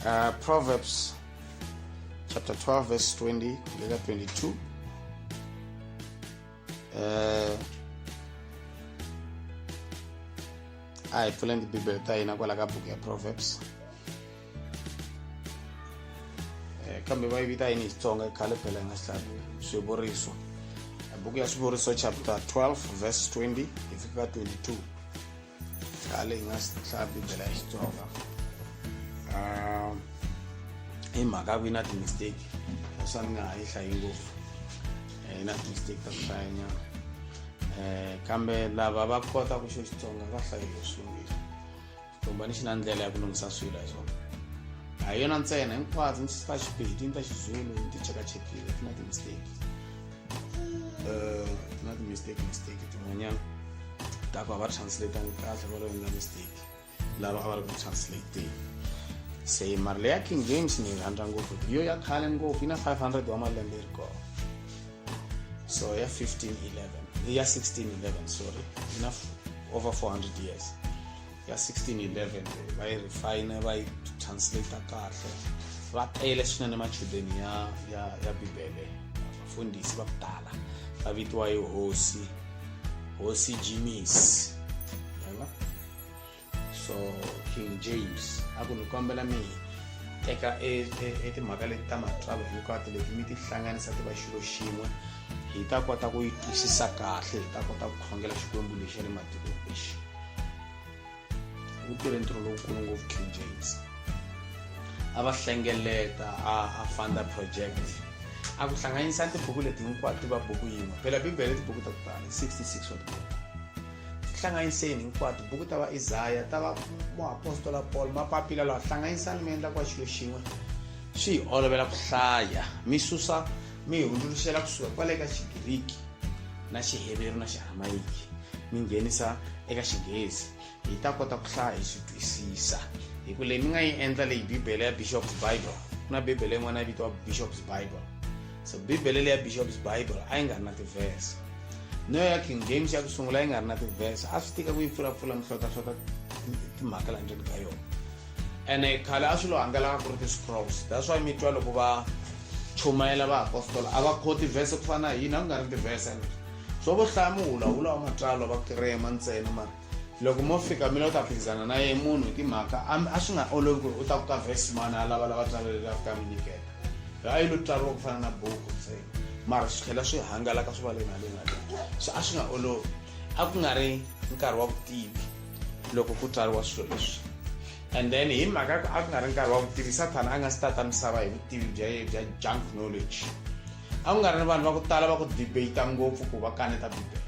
uh, proverbs chapter 12 verse 20 kulela 22 uh, a hi pfuleni tibibele ta hina kwala ka buku ya proverbs eh, kambe va yi vita yini xitsonga i khale phela hi nga xihlaku swivuriso buku ya swivuriso chapter 12 verse 20 hi fika ka 22 khale hi nga swi hlaya bibele ya xitsonga um hi mhaka ku yi na ti-mistake leswa ni nga ha yi hlayi ngopfu eh, yi na ti-mistake ta ku hlayanyana um eh, kambe lava va kota ku xo xitsonga va hlayile swivili xitombani xi na ndlela ya ku lunghisa swilo hi swona a hi yona ntsena hinkwazo ni ta xipedi ni ta xizulu ni ti chekachekile ti na ti-mistake Uh, not mistake mistake tin'wanyana ta ku a va ri translatangi kahle va ri endla mistake lava a va ri ku translating se mali leya king james ni yi rhandza ngopfu yo ya khale ngopfu yi na 500 wa malembe yi ri kona so ya 1511 ya 1611 sorry yi na over 400 years ya 1611 va yi refine va yi translate kahle va tele swinene machudeni ya ya ya bibele vafundhisi va ku tala va vitiwa yi hosi hosi jimis yona so king james a ku ni kombela mi teka etimhaka e, e, e leti ta matsalwa hinkwato leti mi ti hlanganisa ti va xilo xin'we hi ta kota ku yi twisisa kahle hi ta kota ku khongela xikwembu lexi ya le matikweni lexi u tirhe ntirho lowukulu ngopfu king james a va hlengeleta a a fanda project a ku hlanganisa tibuku leti hinkwato ti va buku yin'we phela bibele i tibuku ta ku tala 66 wa tibuku hlanganiseni hinkwato buku ta va isaya ta va muapostola paul mapapila lawa hlanganisani mi endla kwa xilo xin'we swi hi olovela ku hlaya mi susa mi hundzuluxela kusuka kwale ka xigiriki na xiheveru na xiaramayiki mi nghenisa eka xinghezi hi ta kota ku hlaya hi swi twisisa hi ku leyi mi nga yi endla leyi bibele ya bishop's bible ku na bibele yin'wana ya vitiwa bishop's bible so bibele leyi ya bishop's bible a yi nga ri na tivhese no ya king james ya ku sungula yi nga ri na tivhese a swi tika ku yi pfulapfula mihlotlahlota timhaka la ndzeni ka yona ene khale a swilo hangalaka ku ri ti-scrolls that's why mi twa loko va chumayela vaapostola a va khoti vhese ku fana na hina ku nga ri tivhese and swo vo hlaya muhulahula wa matsalwa va kirema ntsena mara loko mo fika mi lo ta phikizana na ye munhu hi timhaka a swi nga olovi ku ri u ta ku ka vhesi mani a lava lava tsalwa leri a fika mi nyikela a yi lo tsariwa ku fana na buku ntsena mara swi tlhela swi hangalaka swi va le na le na le so a swi nga olovi a ku nga ri nkarhi wa vutivi loko ku tswariwa swilo leswi and then hi mhaka ku a ku nga ri nkarhi wa vutivi sathana a nga si tata misava hi vutivi bya ye bya junk knowledge a ku nga ri ni vanhu va ku tala va ku debata ngopfu ku va kaneta bibele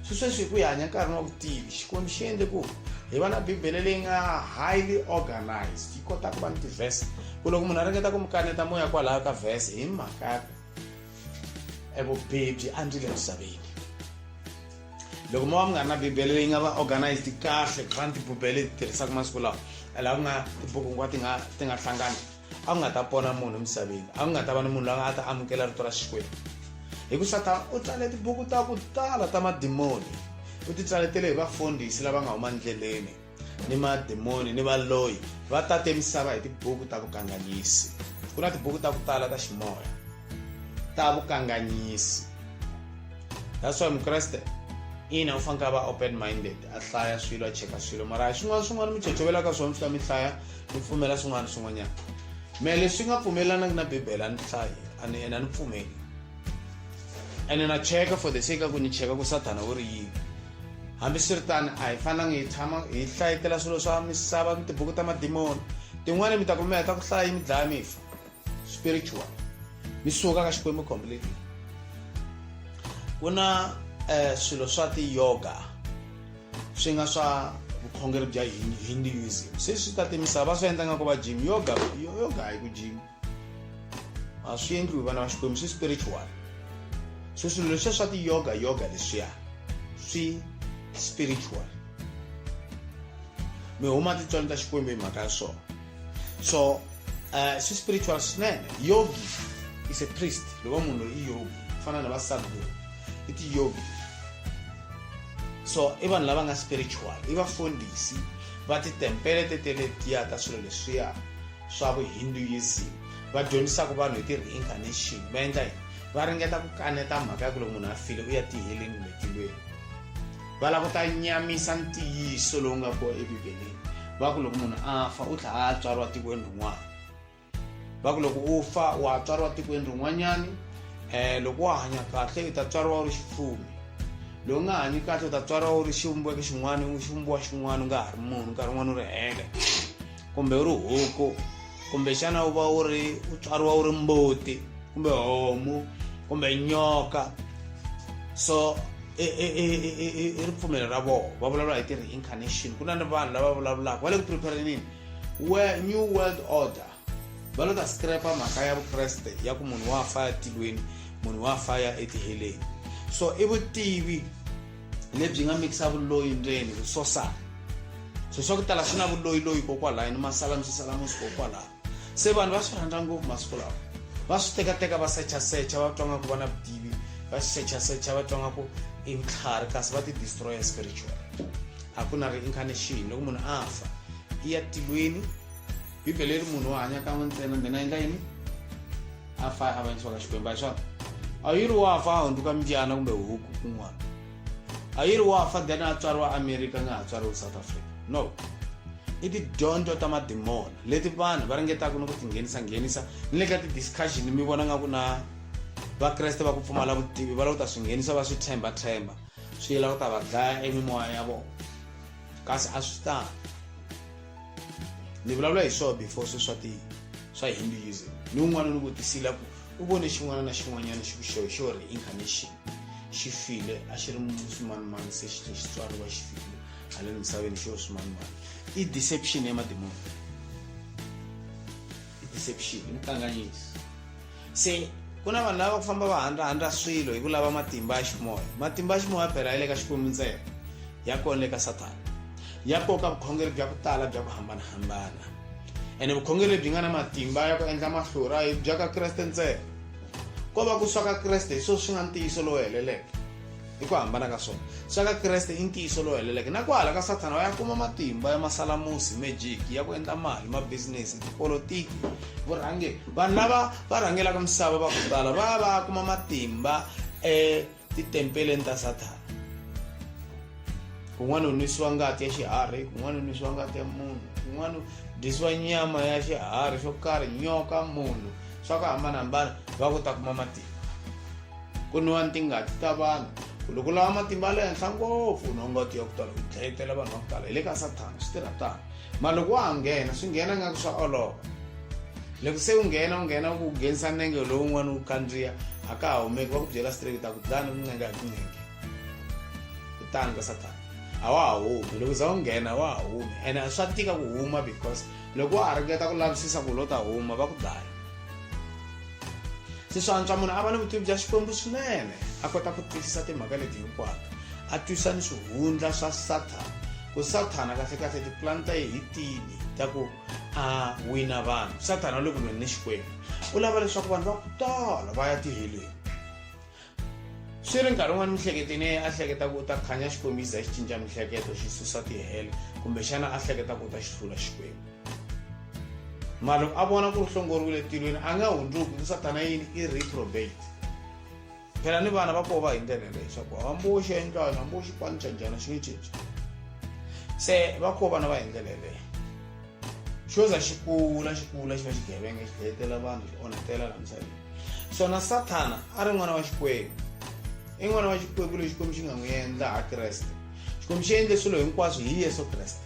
swi sweswi hi ku hi hanya nkarhini wa vutivi xikwembu xi endle ku hi va na bibele leyi nga highly organized yi kota ku va ni tivhese ku loko munhu a ringeta ku mi kaneta moya kwalaho ka vhese hi mhaka e vubihi byi andzile emisaveni loko mo va mi nga ri na bibele leyi nga va organized kahle ku fana tibibele ti tirhisaka masiku lawa laha ku nga tibuku hinkwato ti nga ti nga hlangani a ku nga ta pona munhu emisaveni a ku nga ta va ni munhu loyi a nga ta amukela rito ra xikwembu hi ku satana u tsale tibuku ta ku tala ta madimoni u ti tsaletele hi vafundhisi lava nga huma ndleleni ni madimoni ni valoyi va tate misava hi tibuku ta vukanganyisi ku na tibuku ta ku tala ta ximoya ta vukanganyisi that's why mukreste ina u fanekele va open minded a hlaya swilo a cheka swilo mara hi swin'wana swin'wana mi chochovelaka swona swi ta mi hlaya mi pfumela swin'wana swin'wanyana me leswi nga pfumelanaki na bibele a ni hlayi and ene a ni pfumeli ene na cheka for the sake a ku ni cheka ku sathana u ri yini hambiswiritani a hi fanangi hi tshama hi hlayetela swilo swa misava ni tibuku ta madimoni tin'wani mi ta kumela ta ku hlaya yi mi dlaya mi fa spiritual mi suka ka xikwembu completely ku na um swilo swa ti-yoga swi nga swa vukhongeri bya hinduism se swi ta timisava va swi endla nga ku va jim yoga yoga hi ku jima a swi endliwi vana va xikwembu swi spiritual so swilo leswiya swa ti-yoga yoga leswiya swi spiritual mi huma tintswalo ta xikwembu hi mhaka ya swona so uh, swi spiritual swinene yogi is a priest loko munhu loyi i yogi ku fana na vasadguru i tiyogi so i vanhu lava nga spiritual i vafundhisi va titempele teteletiya ta swilo leswiya swa vuhinduism va dyondzisaka vanhu hi ti-reincarnation va endla yini va ringeta ku kaneta mhaka ya ku loko munhu a file u ya tiheleni kumbe tilweni va lava ku ta nyamisa ntiyiso lowu nga kona ebibeleni va ku loko munhu a fa u tlha a tswariwa tikweni rin'wana va ku loko u fa wa tswariwa tikweni rin'wanyana um eh, loko wa hanya kahle u ta tswariwa u ri xifumi lowu nga hanyi kahle u ta tswariwa u ri xivumbeko xin'wana xivumbiwa xin'wana u nga ha ri munhu nkarhi wun'wana u ri heke kumbe u ri huku kumbexana u va u ri u tswariwa u ri mbuti kumbe homu kumbe nyoka so i ripfumelo ra vona va vulavula hi ti-reincarnation ku na ni vanhu lava vulavulaka va le ku preparenini new world order va lo ta scrapa mhaka ya vukreste ya ku munhu wa fa ya tilweni munhu wa fa ya etiheleni so i vutivi lebyi nga mikisa vuloyi ndzeni ku swosana swilo swa ku tala swi na vuloyiloyi kokwalaho ni masala mi swi sala musi kokwalaho se vanhu va swi rhandza ngopfu masiku lawa va swi tekateka va sechasecha va twa nga ku va na vutivi va swi sechasecha va twa nga ku i vutlhari kasi va ti-destroyer spiritual a ku na reincarnation loko munhu a fa i ya tilweni bibele yi ri munhu wo hanya kan'we ntsena then a endla yini a fa a vanyisiwa ka xikwembu a swona a yi ri wa fa a hundzuka mbyana kumbe huku kun'wana a yi ri wa fa then a tswariwa america nga ha tswariwi south africa no i tidyondzo ta madimona leti vanhu va ringetaka ni ku tinghenisanghenisa ni le ka ti-discussion mi vona nga ku na vakreste va ku pfumala vutivi va la ku ta swi nghenisa va swi tshemba tshemba swi yela ku ta va dlaya emimoya ya vona kasi a swi tani ni vulavula hi swona before swi swa ti swa hinduism ni un'wana ni vutisile ku u vone xin'wana na xin'wanyana xi xo xo ri incarnation xi file a xi ri swimanimani se xi xi tswariwa xi file haleni misaveni xo swimanimani i deception ya mademoni hi deception hi mukanganyiso se ku na vanhu lava ku famba va handlahandla swilo hi ku lava matimba ya ximoya matimba ya ximoya phela ya le ka xikwembu ntsena ya kona le ka sathana ya koka vukhongeri bya ku tala bya ku hambanahambana ene vukhongeri lebyi nga na matimba ya ku endla mahlura hi bya ka kreste ntsena ko va ku swa ka kreste hi swona swi nga ntiyiso lowu heleleke hi ku hambana ka swona swa ka kreste i ntiyiso lowu heleleke na ku hala ka sathana va ya kuma matimba ya masalamusi magic ya ku endla mali mabisinesi tipolotiki vurhangeri vanhu lava va rhangelaka misava va ku tala va ya va ya kuma matimba etitempeleni ta sathana kun'wana u nwisiwa ngati ya xiharhi kun'wana u nwisiwa ngati ya munhu kun'wana u dyisiwa nyama ya xiharhi xo karhi nyoka munhu swa ku hambanahambana va ku ta kuma matimba ku nwiwa tingati ta vanhu ku loko lava matimba ya le henhla ngopfu no ngati ya ku tala ku dlayetela vanhu va ku tala hi le ka sathana swi tirha tano ma loko wa ha nghena swi nghena nga ku swa olova loko se u nghena u nghena u ku nghenisa nenge lowun'wana u kandziya a ka ha humeki va ku byela straight ta ku dlana ku nenge a ku nenge kutani ka sathana a wa ha humi loko za u nghena a wa ha humi ene a swa tika ku huma because loko wa ha ringeta ku lavisisa ku lo ta huma va ku dlaya swi swi antswa munhu a va ni vutivi bya xikwembu swinene a kota ku twisisa timhaka leti hinkwato a twisa ni swihundla swa sathana ku sathana kahlekahle tipulani ta ye hi tini ta ku a wina vanhu sathana u le ku lweni ni xikwembu u lava leswaku vanhu va ku tala va ya tiheleni swi ri nkarhi wun'wana mihleketeni yeye a hleketa ku u ta khanya xikombiso xi cinca mihleketo xi susa tihele kumbexana a hleketa ku u ta xi hlula xikwembu mara loko a vona ku ri hlongoriwile tilweni a nga hundzuki ku satana yini i reprobate phela ni vana va koho va hi ndlela yeleyo leswaku hamboxi ya endlani hamboxi kwani xa njhana xi nge cinci se va koho vana va hi ndlela yeleyo xo za xi kula xi kula xi va xigevenga xi dlayetela vanhu xi onhetela la misaveni swona sathana a ri n'wana wa xikwembu i n'wana wa xikwembu lexi xikwembu xi nga n'wi endla ha kreste xikwembu xi endle swilo hinkwaswo hi yesu kreste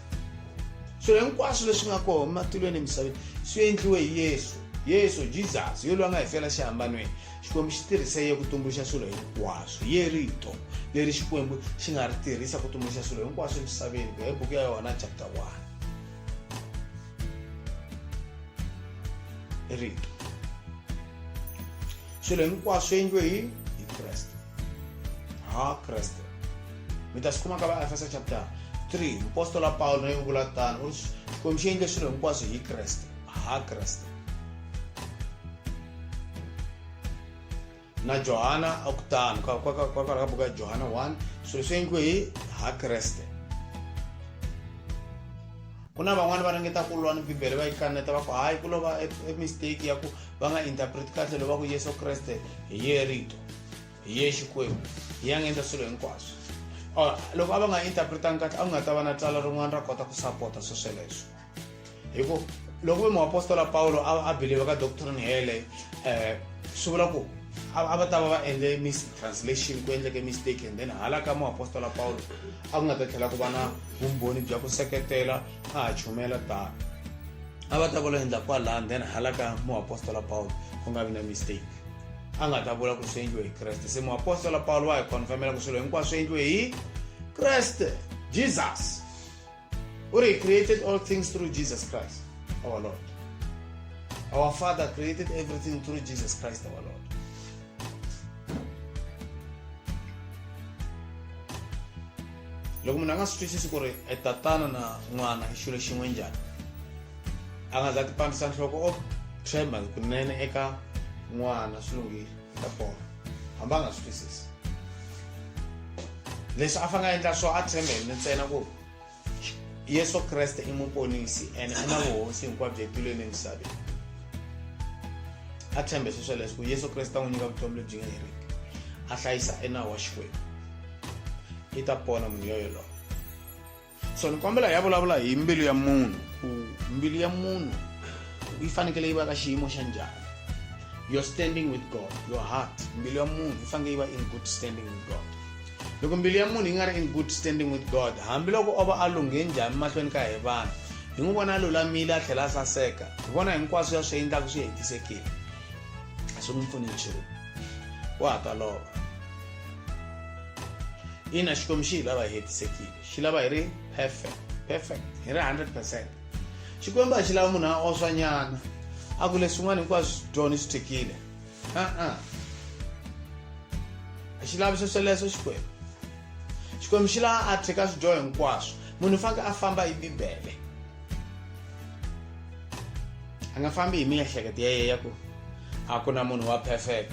swilo hinkwaswo leswi nga kona ematilweni emisaveni swi endliwe hi yesu yesu jesus yo lwa nga hi fela xihambanweni xikwembu xi tirhise ye ku tumbuluxa swilo hinkwaswo ye rito leri xikwembu xi nga ri tirhisa ku tumbuluxa swilo hinkwaswo emisaveni ku ya hi buku ya yohana chapter 1 ri swilo hinkwaswo swi endliwe hi hi kreste ha kreste mi ta swi kuma ka vaefesa chapter 3 mupostola pawulo naye u vula tano u ri xikwembu xi endle swilo hinkwaswo hi kreste ha kreste na johana a ku tano kwakwalaho ka buku ya johana 1 swilo swi endliwe hi ha kreste ku na van'wani va ringeta ku lwa ni bibele va yi kaneta va ku hayi ku lova e, e mistake ya ku va nga interpreti kahle loko va ku yesu kreste hi ye rito hi ye xikwembu hi ya nga endla swilo hinkwaswo loko a va nga interpretangi kahle a ku nga ta va na tsala rin'wana ra kota ku sapota swesweleswo hi ku loko ve muapostola pawulo a believe ka doctrine hele um swi vula ku a va ta va va endle mistranslation ku endleke mistake and then hala ka muapostola pawulo a ku nga ta tlhela ku va na vumbhoni bya ku seketela a ha chumela tano a va ta vula endla kwalaha then hala ka muapostola pawulo ku nga vi na mistake a nga ta vula ku swi endliwe hi kreste se muapostola pawulo wa hi confirmela ku swilo hinkwaswo swi endliwe hi kreste jesus O re, He created all things through Jesus Christ, our Lord. Our Father created everything through Jesus Christ, our Lord. loko munhu a nga swi twisisi ku ri e tatana na n'wana i xilo xin'we njhani a nga za ti pandisa nhloko o tshemba kunene eka n'wana swi lunghile a bomba hambi a nga swi twisisi leswi a fanele a endla swo a tshembe hi ntsena ku yesu kreste i muponisi ene u na vuhosi hinkwabyo etilweni emisaveni a tshembe sweswo leswi ku yesu kreste a n'wi nyika vutomi lebyi nga heriki a hlayisa enawu wa xikwembu i ta pona munhu yoyoloyo so ni kombela hi ya vulavula hi mbilu ya munhu ku mbilu ya munhu yi fanekele yi va ka xiyimo xa njhani your standing with god your heart mbilu ya munhu yi fanekele yi va in good standing with god loko mbilu ya munhu yi nga ri in good standing with god hambiloko o va a lunghe njhani mahlweni ka hi vanhu hi n'wi vona a lulamile a tlhela a saseka hi vona hinkwaswo ya swi endlaka swi hetisekile a swi n'wi pfuni nchumu wa ha ta lova ina xikwembu xi hi lava hetisekile xi lava hi ri perfect perfect hi ri 100 percent xikwembu a xi lava munhu a oswanyana a ku leswin'wana hinkwaswo swi dyoni swi thekile a-a a xi lavi swesweleswo xikwembu xikwembu xi lava a theka swidyoho hinkwaswo munhu u faneke a famba hi bibele a nga fambi hi miehleketo ya yeya ku a ku na munhu wa perfect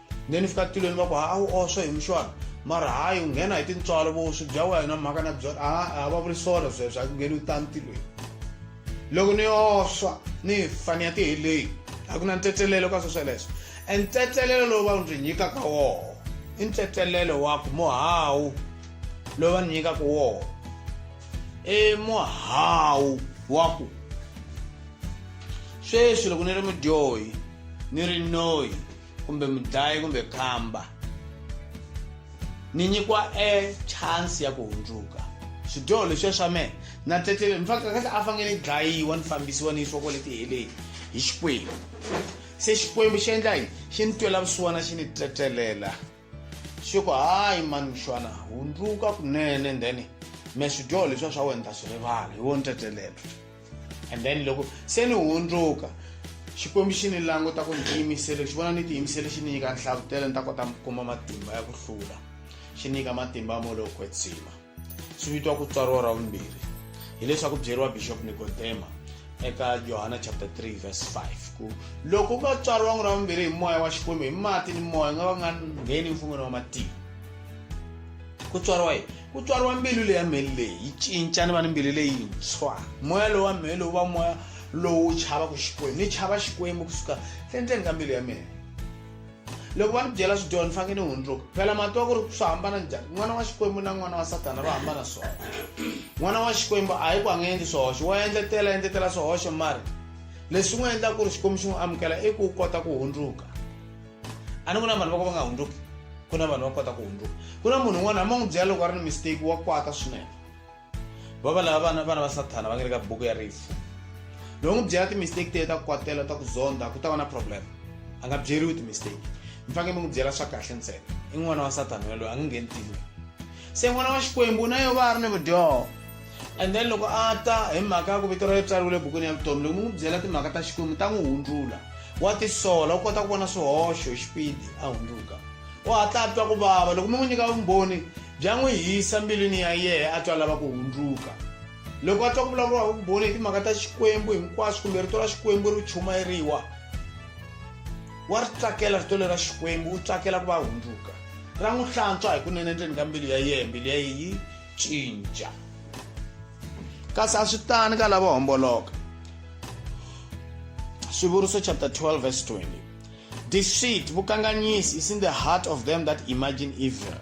ne ni fika tilweni va ku ha a wu oswe hi muxwana mara hayi u nghena hi tintswalo vo swi bya wena mhaka na byona a va vuli swona sweswo a ku ngheni u tani tilweni loko ni oswa ni fani ya tiheleyi a ku na ntsetselelo ka swesweleswo e ntsetselelo lowu va ndzi nyikaka woho i ntsetselelo wa ku muhawu lowu va ni nyikaka woho i muhawu wa ku sweswi loko ni ri mudyohi ni ri noyi kumbe mudlayi kumbe khamba ni nyikiwa e chance ya ku hundzuka swidyoho leswiya swa mehe na tletlele in fact kahle a fanele ni dlayiwa ni fambisiwa ni yisiwa kwale tiheleni hi xikwembu se xikwembu xi endla yini xi ni twela vusiwana xi ni tletlelela xi ku hayi mani mxwana hundzuka kunene and then me swidyoho leswiya swa wena ta swi rivala hi wo ni tetelelo and then loko se ni hundzuka xikwembu xi ni languta ku ni tiyimisele xi vona ni tiyimisele xi ni nyika nhlavutelo ni ta kota kuma matimba ya ku hlula xi nyika matimba mo lowo kwetsima swi vitiwa ku tswariwa ra vumbirhi hileswaku byeriwa bishop nikodema eka johana chapter 3 verse 5 ku loko u nga tswariwa n'wi ra vumbirhi hi moya wa xikwembu hi mati ni moya nga va nga ngheni mfungwini wa matiko ku tswariwa yini ku tswariwa mbilu leya mheli leyi yi cinca ni va ni mbilu leyintshwa moya lowu wa mheli wu va moya lowu wu chavaku xikwembu ni chava xikwembu kusuka endzeni ka mbilu ya mina loko va ni byela swidyona ni fanekele ni hundzuka phela mati wa ku ri swi hambana njhani n'wana wa xikwembu na n'wana wa satana va hambana swona n'wana wa xikwembu a hi ku a nga endli swihoxo wa endletela endletela swihoxo mari leswi n'wi endlaka ku ri xikwembu xi n'wi amukela i ku kota ku hundzuka a ni ku na vanhu va ku va nga hundzuki ku na vanhu va kota ku hundzuka ku na munhu un'wana hambi a n'wi byela loko a ri ni mistake wa kwata swinene va va lava vana vana va sathana va nga le ka buku ya rifu loko n'wi byela ti-mistake teye ta ku kwatela ta ku zonda ku ta va na problem a nga byeriwi ti-mistake mi faneke mi n'wi byela swa kahle ntsena i n'wana wa sathana yaloyo a nga ngheni tile se n'wana wa xikwembu na yo va a ri ni vudyoho and then loko a ta hi mhaka ya ku vito ra yo tsariwile ebukwini ya vutomi loko mi n'wi byela timhaka ta xikwembu ta n'wi hundzula wa tisola u kota ku vona swihoxo hi xipidi a hundzuka u hatla a twa ku vava loko mi n'wi nyika vumbhoni Bya n'wi hisa mbilwini ya yehe a twa lava ku hundzuka. Loko a twa ku vulavuriwa hi vumbhoni hi timhaka ta Xikwembu hinkwaswo kumbe rito ra Xikwembu ri chumayeriwa, wa ri tsakela rito leri ra Xikwembu, u tsakela ku va a hundzuka. Ra n'wi hlantswa hikunene endzeni ka mbilu ya yehe, mbilu ya yehe yi cinca. Kasi a swi tani ka lavo homboloka. Swivuriso chapter 12 verse 20. Deceit, vukanganyisi, is in the heart of them that imagine evil.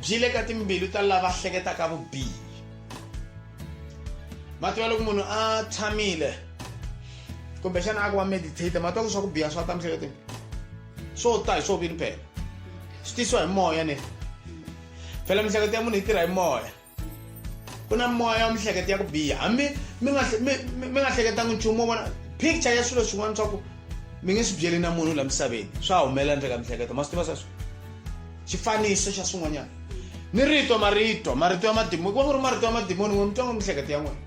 Byi le ka timbilu ta lava hleketaka vubihi. Matwa loko munhu a tshamile kumbexana a ku wa meditate matwa ku swa ku biha swa ta mihleketweni swo ta hi swo vini phela swi tisiwa hi moya ne phela miehleketo ya munhu yi tirha hi moya ku na moya wa mihleketo ya ku biha hambi mi nga mi mi nga hleketangi nchumu wo vona picture ya swilo swin'wana swa ku mi nge swi byeli na munhu la misaveni swa humelela ndzeka mihleketo ma swi tiva sweswo xifaniso xa swin'wanyana ni rito marito marito ya madimoni ku va ku ri marito ya madimoni n'we mi twa ngo mihleketo ya n'wina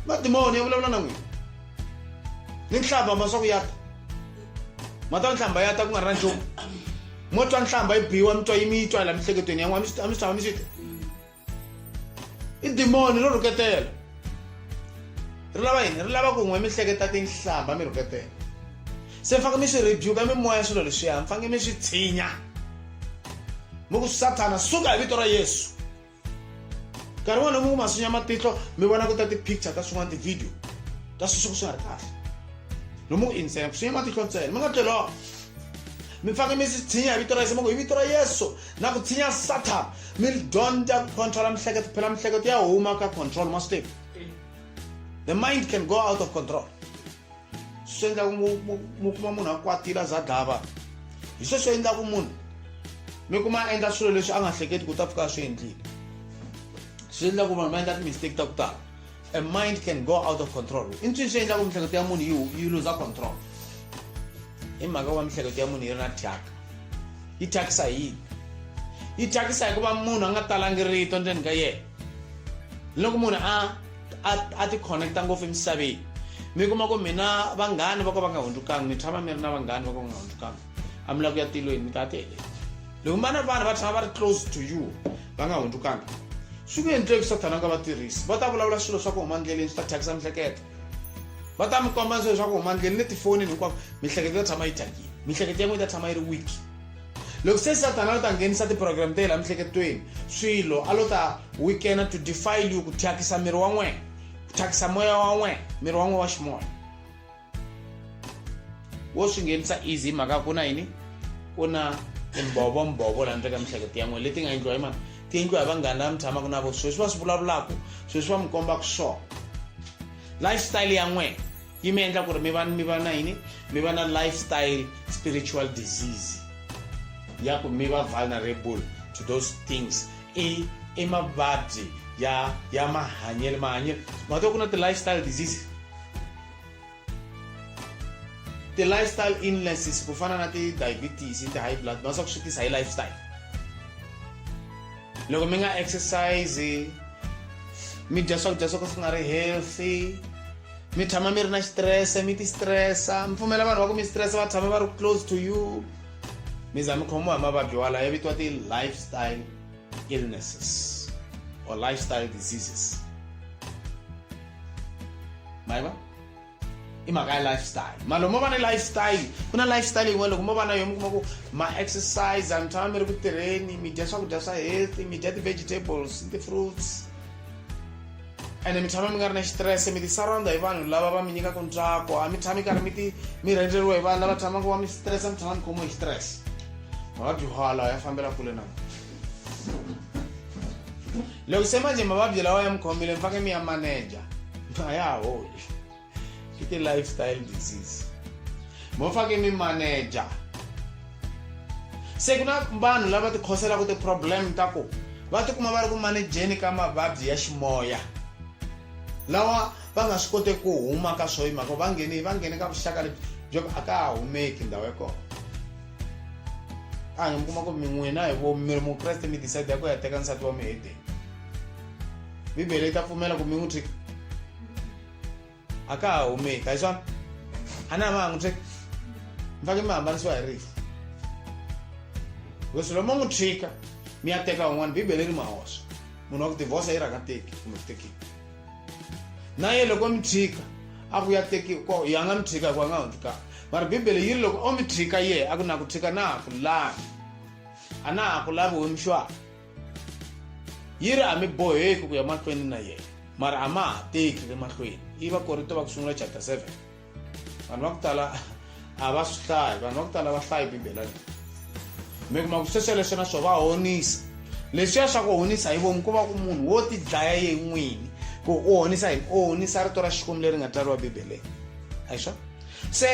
madimoni ya vulavula na n'wina ni nhlamba ma swa ku ya ta ma twa nhlamba ya ta ku nga ri na nchumu mo twa nhlamba yi biwa mi twa yi mi yi twa la mihleketweni yan'we a mi swi a mi swi tshama mi swi ta i dimoni ro rhuketela ri lava yini ri lava ku n'we mi hleketa tinhlamba mi rhuketela se mi faneke mi swi rebuka mimoya swilo leswiya mi faneke mi swi tshinya mi ku sathana suka hi vito ra yesu nkarhi wona mungu masunya matihlo mi vona ku ta ti-picture ta swin'wana ti-video ta sweswi ku swi nga ri kahle no mungu insena ku sunya matihlo ntsena mi nga tleloko mi fake mi swi tshinya hi vito ra yesu mungu hi vito ra yesu na ku tshinya satan mi dyondza ku controla mihleketo phela mihleketo ya huma ka control ma swi tivi the mind can go out of control swi endlaku mu kuma munhu a kwatile a za dlava hi sweswo endlaku munhu mi kuma a endla swilo leswi a nga hleketi ku ta pfuka a swi endlile swi endla ku vanhu va endla timistake ta ku tala a mind can go out of control i nswini swi endlaku mihleketo ya munhu yi yi luza control hi mhaka wa mihleketo ya munhu yi ri na thyaka yi thyakisa hi yini yi thyakisa hikuva munhu a nga talangi rito ndzeni ka yena loko munhu a a a ti connecta ngopfu emisaveni mi kuma ku mina vanghani va ka va nga hundzukangi mi tshama mi ri na vanghani va ka va nga hundzukangi a mi lava ku ya tilweni mi ta ti heleni loko mi va na vanhu va tshama va ri close to you va nga hundzukangi swi ku endleki sathana nga va tirhisi va ta vulavula swilo swa ku huma ndleleni swi ta thyakisa mihleketo va ta mi komba swilo swa ku huma ndleleni ni tifonini hinkwavo mihleketo yi ta tshama yi thyakile mihleketo ya n'wina yi ta tshama yi ri weak loko se satana a lo ta nghenisa tiprogramu ta yela mihleketelweni swilo a lo ta weekena to defile you ku thyakisa miri wa n'wena ku thyakisa moya wa n'wena miri wa n'wena wa ximoya wo swi nghenisa easy hi mhaka ku na yini ku na timbhovombhovo laha ndleka mihleketo ya n'wena leti nga endliwa hi mani ti endliwa hi vanghani lava mi tshamaka na vo sweswi va swi vulavulaka sweswi va mi kombaka swona lifestyle ya n'wena yi mi endla ku ri mi va mi va na yini mi va na lifestyle spiritual disease ya ku mi va vulnerable to those things i i mavabyi ya ya mahanyelo mahanyelo mato ku na ti-lifestyle diseases ti-lifestyle illnesses ku fana na ti-diabetes ti-high blood ma swa ku swi tisa hi lifestyle loko mi nga exercise mi dya swakudya swo ka swi nga ri healthy mi tshama mi ri na xitirese mi tistresa mi pfumela vanhu va ku mi stresa va tshama va ri close to you mi za mi khomiwa hi mavabyi walayo ya vitiwa ti-lifestyle illnesses or lifestyle diseases mayiva i mhaka ya lifestyle malo mo va na lifestyle ku na lifestyle yin'wana loko mo va na yo mi kuma ku ma exercise mi tshama mi ri ku tirheni mi dya swakudya swa healthy mi dya ti-vegetables ti-fruits ende mi tshama mi nga ri na xitirese mi ti-surrounda hi vanhu lava va mi nyikaka ntsako a mi tshami karhi mi ti mi rhendzeriwa hi vanhu lava tshamaka va mi xitirese mi tshama mi khomiwa hi xitirese mavabyi hwala ya fambela kule na loko se manje mavabyi lawa ya mi khomile mi faneke mi ya maneja a ya ha holi i ti-lifestyle disease mo fake mi manager se ku na vanhu lava ti khoselaka ti-problem ta ku va tikuma va ri ku manejeni ka mavabyi ya ximoya lawa va nga swi koteki ku huma ka swo yimhaka va ngheni va nghene ka vuxaka lebyi byo a ka ha humeki ndhawu ya kona a nge mi kuma ku mi n'wina hi vo mi ri mukreste mi decide ya ku ya teka nsati wa muhedeni bibele yi ta pfumela ku mi n'wi tshika akaa hume kaiswa hana mangu tse mfake mamba nisiwa herifu because loma n'wi tshika mi ya teka un'wana bibele ri mahoxa munhu wa ku divorce yi rhanga teki kumbe ku tekiwa na ye loko mi tshika a ku ya teki ko ya nga mi tshika hikuva a nga hundzi kaya mara bibele yi ri loko o mi tshika ye a ku na ku tshika na ha ku lavi a na ha ku lavi wemixwaka yi ri a mi boheki ku ya mahlweni na yena mara a ma ha teki le mahlweni yi va korito va ku sungula chapter 7 vanhu va ku tala a va swi hlayi vanhu va ku tala va hlayi bibela leyi mi kuma ku sweswo leswi na swo va honisa leswiya swa ku honisa hi vomu ku va ku munhu wo tidlaya ye n'wini ku u honisa yini u honisa rito ra xikwembu leri nga tsariwa bibeleni a hi swona se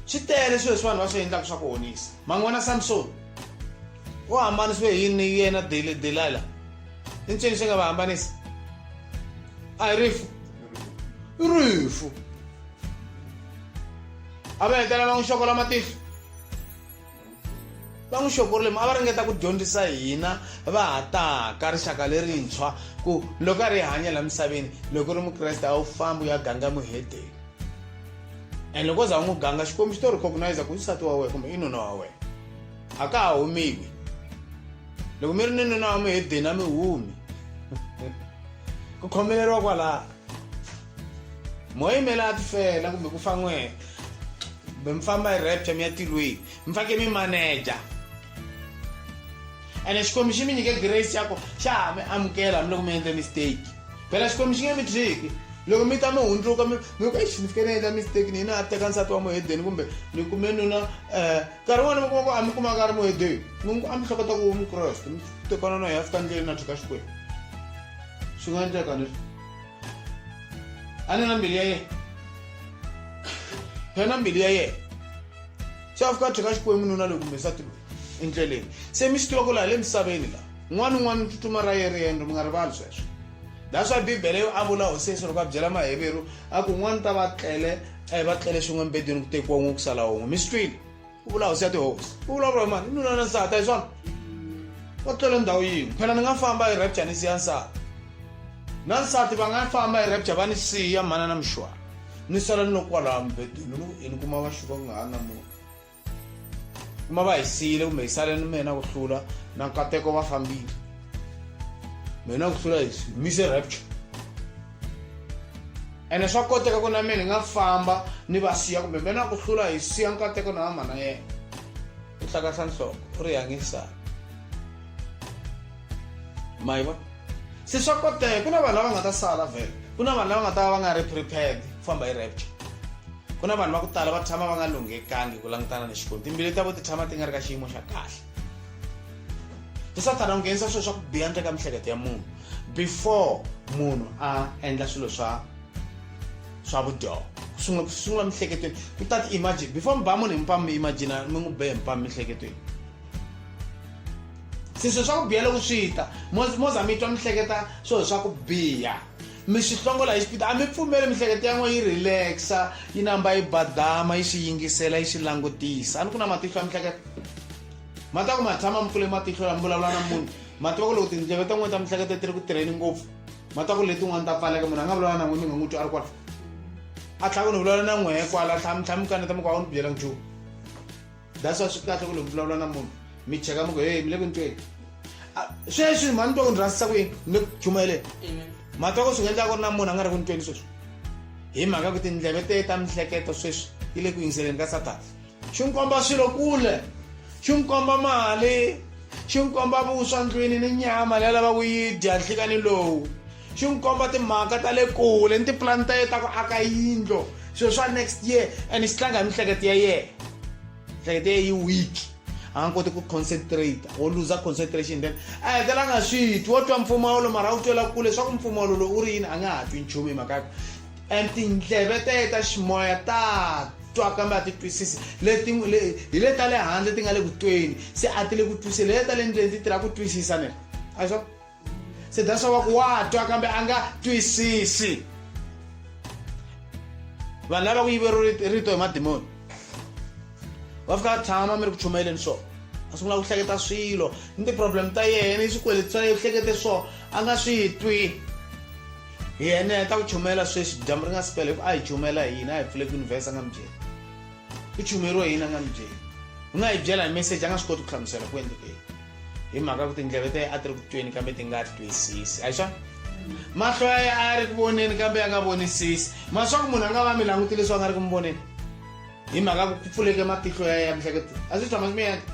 swi tele swilo leswi vanhu va swi endlaka swa ku honisa man'wana samsoni u hambanisiwe hi yini ni yena delila i ncini xi nga va hambanisa a hi rifu i rifu a va hetelela va n'wi xokola matihlo va n'wi xokorile mi a va ringeta ku dyondzisa hina va ha taka rixaka lerintshwa ku loko a ri hanya laha misaveni loko u ri mukreste a wu fambi u ya ganga muhedeni and loko za u n'wi ganga xikwembu xi to recognize ku nsati wa wena kumbe i nuna wa wena a ka ha humiwi loko mi ri ni nuna wa mi hedeni a mi humi ku khomeleriwa kwalaha moya yimela a tifela kumbe ku fan'wena kumbe mi famba hi rapture mi ya tilweni mi fake mi manager ene xikwembu xi mi nyike grace ya ku xa ha mi amukela hambiloko mi endle mistake phela xikwembu xi nge mi thyiki loko mi ta mi hundzuka mi ku exi ni fike ni endla mistake ni yina a teka nsati wa muhedeni kumbe ni kume nuna um eh, nkarhi wun'wana mi kuma ku a mi kumaka a ri muhedeni mi ngi ku a mi hleketa ku mukreste mi tekana na hi a fika ndleleni na thyika xikwembu swi nga endleka ni a ni na mbilu ya yena phela na mbilu ya yena se a fika a tlheka xikwembu nuna loyi kumbe nsati loyi endleleni se mi swi tiva ku laha le misaveni laha un'wana un'wana tsutsuma ra yeri yendro mi nga rivali sweswo laha swa bibele yo a vula hosi yesu loko a byela maheveru a ku un'wana ta va tlele a hi va tlele swin'we embedweni ku tekiwa un'we ku sala un'we mi swi twile u vula hosi ya tihosi u vulavula hi mani i nuna na nsati a hi swona va tlele ndhawu yin'we phela ni nga famba hi rapture ni siya nsati na nsati va nga famba hi rapture va ni siya mhana na mixwana ni sala ni loko kwalaha mubedweni ni ku ini kuma va xuka ku nga ha na munhu kuma va hi siyile kumbe hi sale ni mina ku hlula na nkateko va fambile mina ku hlula hi mise rapture ene swa koteka ku na mina ni nga famba ni va siya kumbe mina ku hlula hi siya nkateko na vamana yena u hlakahla nhloko u ri yangisana maiva se swa koteka ku na vanhu lava nga ta sala vhele ku na vanhu lava nga ta va va nga ri prepared ku famba hi rapture ku na vanhu va ku tala va tshama va nga lunghekangi ku langutana ni xikwembu timbili ta vo ti tshama ti nga ri ka xiyimo xa kahle se sathana u nghenisa swilo swa ku biha ndle ka mihleketo ya munhu before munhu a endla swilo swa swa vudyoho sungula ku sungula mihleketweni ku ta ti-imagine before mi ba munhu hi mpamu mi imagina mi n'wi be hi mpamu mihleketweni siswe swa ku biha loko swi ta moza mi twa mi hleketa swilo swa ku biha mi swi hlongola hi xipita a mi pfumeli miehleketo ya n'wina yi relaxa yi namba yi badama yi swi yingisela yi swi langutisa a ni ku na matihlo ya miehleketo ma ta ku ma tshama mi pfule matihlo lami vulavula na munhu ma tiva ku loko tindleve ta n'wina ta miehleketo ti ri ku tirheni ngopfu ma ta ku letin'wana ta pfaleka munhu a nga vulavula na n'wina mi nga n'wi twi a ri kwala a tlhaka ni vulavula na n'wehe kwala tlhamitlhami kaneta mi ku a wu ni byela nchumu that's why swi kahle ku loko vulavula na munhu mi cheka mi ku hey mi le ku ntweni sweswi mhani twa ku ni rhandzisa kwini ni ku chumayeleni mhani twa ku swi nga endlaka ku ri na munhu a nga ri ku ntweni sweswi hi mhaka ku tindleve te ta mihleketo sweswi yi le ku yingiseleni ka satana xi n'wi komba swilo kule xi n'wi komba mali xi n'wi komba vuswa ndlwini ni nyama leyi lava ku yi dya nhlikani lowu xi n'wi komba timhaka ta le kule ni tipulani ta yena ta ku aka yindlo swilo swa next year and xi tlanga hi miehleketo ya yena miehleketo ya yi weak a nga koti ku concentrate wo luza concentration then a hetelela nga swi twi wo twa mpfumawulo mara wu twela kule swa ku mpfumawulo lowu u ri yini a nga ha twi nchumu hi mhaka and tindleve ta yena ta ximoya ta twa kambe a ti twisisi leti hi le ta le handle ti nga le ku tweni se a ti le ku twiseni le ta le ndleni ti tirha ku twisisa ne a swa se that's why ku wa twa kambe a nga twisisi vanhu lava ku yivero rito hi madimoni va fika tshama mi ri ku chumayeleni swona a sungula ku hleketa swilo ni ti-problem ta yena i swikweleti swa yena u hlekete swona a nga swi twi yena ya ta ku chumayela sweswi dyambu ri nga si pela hi ku a hi chumayela hi yini a hi pfule ku univhesa a nga mi byeli u chumeriwa yini a nga mi byeli u nga yi byela hi message a nga swi koti ku hlamusela ku endlekeni hi mhaka ku tindleve ta a ti ri ku tweni kambe ti nga twisisi a hi swona mahlo ya ye a ya ri ku voneni kambe ya nga vonisisi ma swa ku munhu a nga va mi languti leswi a nga ri ku mi voneni hi mhaka ku pfuleke matihlo ya ya mihleketo a swi tshama swi mi yendla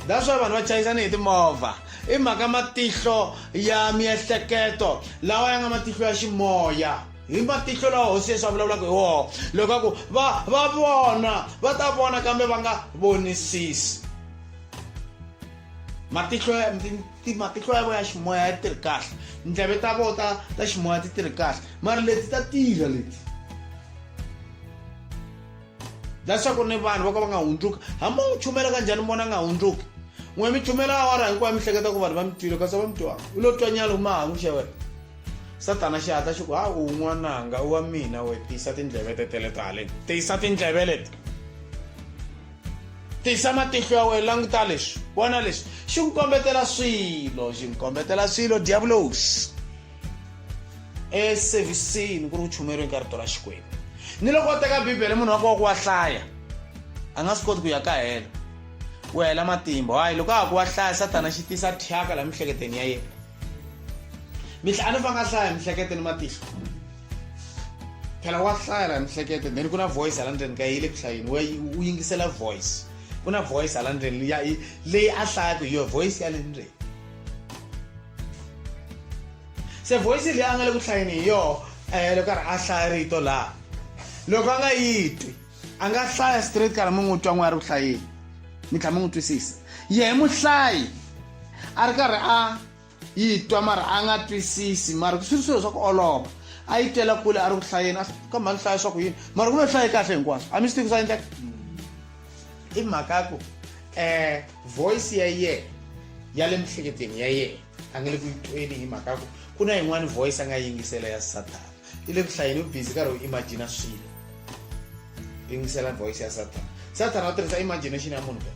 that's why vanhu va chayisana hi timovha i mhaka matihlo ya miehleketo lawa ya nga matihlo ya ximoya hi matihlo lawa hosi yesu a vulavulaka hi woho loko a ku va va vona va ta vona kambe va nga vonisisi matihlo ya matihlo ya vona ya ximoya ya tirhi kahle ndleve ta vona ta ta ximoya ti tirhi kahle mara leti ta tirha leti leswaku ni vanhu vo ka va nga hundzuki hambi u chumela ka njhani vona nga hundzuki n'we mi chumela awara hinkwayo mi hleketa ku vanhu va mi twile kasi va mi twa u lo twa nyalo mahangu xa wena satana xi hatla xi ku ha u n'wananga u wa mina we tiyisa tindleve tetele ta haleni tiyisa tindleve leti tisa matihlo ya wena languta leswi vona leswi xi ku kombetela swilo xi ku kombetela swilo diabulos eservisini ku ri ku chumeriweni ka rito ra xikwembu ni loko u teka bibele munhu wa koho ku wa hlaya a nga swi koti ku ya ka helo ku hela matimba hayi loko a ha ku wa hlaya satana xi tisa thyaka laha miehleketweni ya yena mihlanu va nga hlaya hi mihlekete ni matihlo phela wa hlaya la mihlekete then ku na voice hala ndzeni ka yi le ku hlayeni u yingisela voice ku na voice hala ndzeni leyi a hlayaka hi yo voice ya le ndzeni se voice leyi a nga le ku hlayeni hi yoho um eh, loko karhi a hlaya rito laha loko a nga yi twi a nga hlaya straight kana mi n'wi twa n'we a ri ku hlayeni mi tlhela mi n'wi twisisa yehe muhlayi a ri karhi a yi twa mara a nga twisisi mara swi ri swilo swa ku olova a yi tela kule a ri ku hlayeni kambe a ni hlaya swa ku yini mara ku ve hlaye kahle hinkwaswo a mi swi tivi swa endleka i mhaka ya ku um voice ya yena ya le mihleketweni ya yena a nge le ku yi tweni hi mhaka ya ku ku na yin'wani voice a nga yingisela ya satana i le ku hlayeni u busy karhi u imagina swilo yingisela voice ya satan satan a tirhisa imagination ya munhu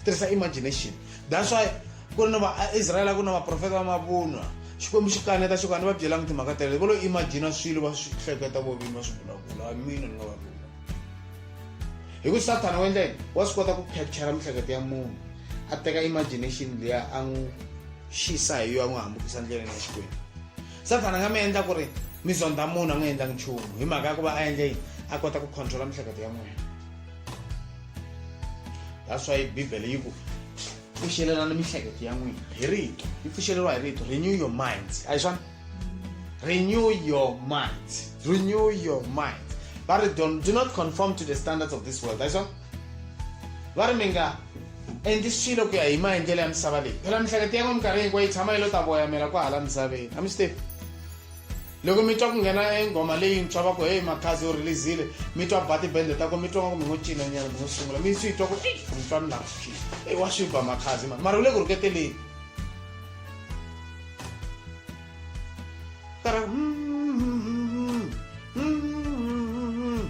tirhisa imagination that's why ku ri na vaisraele ku na vaprofeta va mavunwa xikwembu xi kaneta xo ka ni va byelanga timhaka tele vo lo imagina swilo va swi hleketa vo vini va swi vulavula mina ni nga va vula hi ku sathana wa endla yini wa swi kota ku capture miehleketo ya munhu a teka imagination leya a n'wi xisa hi yo a n'wi hambukisa ndleleni ya xikwembu sathana nga mi endla ku ri mi zondha munhu a n'wi endlangi nchumu hi mhaka ya ku va a endle yini a kota ku controla miehleketo ya n'wina that's why bibele yi ku pfuxelelana miehleketo ya n'wina hi rito yi pfuxeleriwa hi rito renew your minds a hi swona renew your minds renew your minds ba ri do not conform to the standards of this world a hi swona Va ri mi nga endli swilo ku ya hi maendlelo ya misava leyi phela mihlekete ya n'we minkarhi hinkwayo yi tshama yi lo ta voyamela kwa hala misaveni a mi swi tivi loko mi twa ku nghena enghoma leyintshwa va ku heyi makhazi u releasile mi twa ba tibende ta ko mi twa nga ku mi ngo cinanyana mi ngo sungula mi swi twa ku eyi ni twa ni lava swi eyi wa swi ba makhazi mani mara u le ku rhuketeleni kara mm, mm, mm,